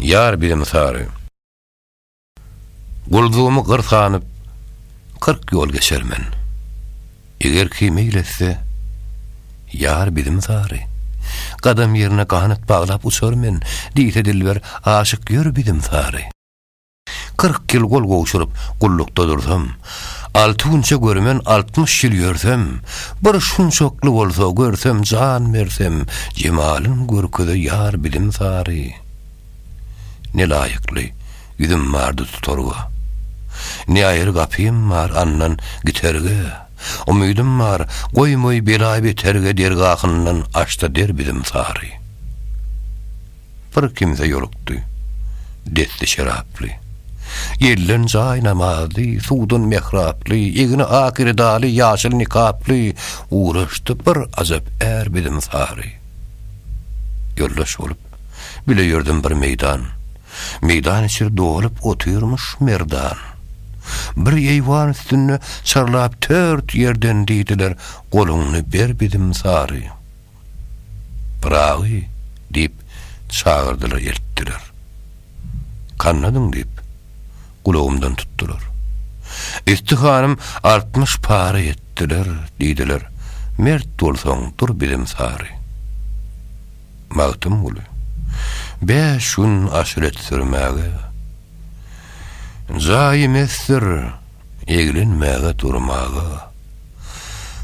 Ýar bilim sary. Guldugymy gyr sanyp, kyrk ýol geçer men. Eger kim eýletse, ýar bilim sary. Gadam ýerine ganat baglap uçar men, diýse dilber aşyk ýör bilim sary. Kyrk ýyl gol gowşuryp, gullukda dursam, Alty günçe görmen altmyş ýyl ýörsem, Bir şunçakly bolsa görsem jan bersem, Jemalyn görkeze ýar bilim sary. Ne laýykly ýüzüm bardy tutarga, Ne aýry gapym bar andan giterge, Umydym bar, goýmaý bela-beterge Dergahyndan aç-da der bilim sary. bir kimse ýolukdy. Desti şeraply. Gelden jaý namazly, suwdan mehraply, egni ak redaly, ýaşyl nikaply, ugraşdy bir ajap är biziň sary. Ýoldaş bolup, bile ýördüm bir meýdan. Meýdan içi dolup otyrmyş merdan. Bir eýwan üstünde çarlap tört ýerden diýdiler, Goluňny ber biziň sary. Pyragy! diýip, çagyrdylar, eltdiler. Kannadyň diýip, gulagymdan tutdular. Üsti hanym altmyş para etdiler, diýdiler, Mert bolsaň, dur bizem sary. Magtymguly, Bäş gün aşret sürmäge. Jaýy mesdir. eglenmäge durmaga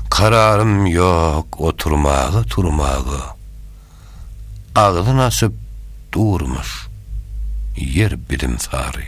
Kararym ýok oturmaga turmaga Agzyn açyp durmuş ýer biziň sary.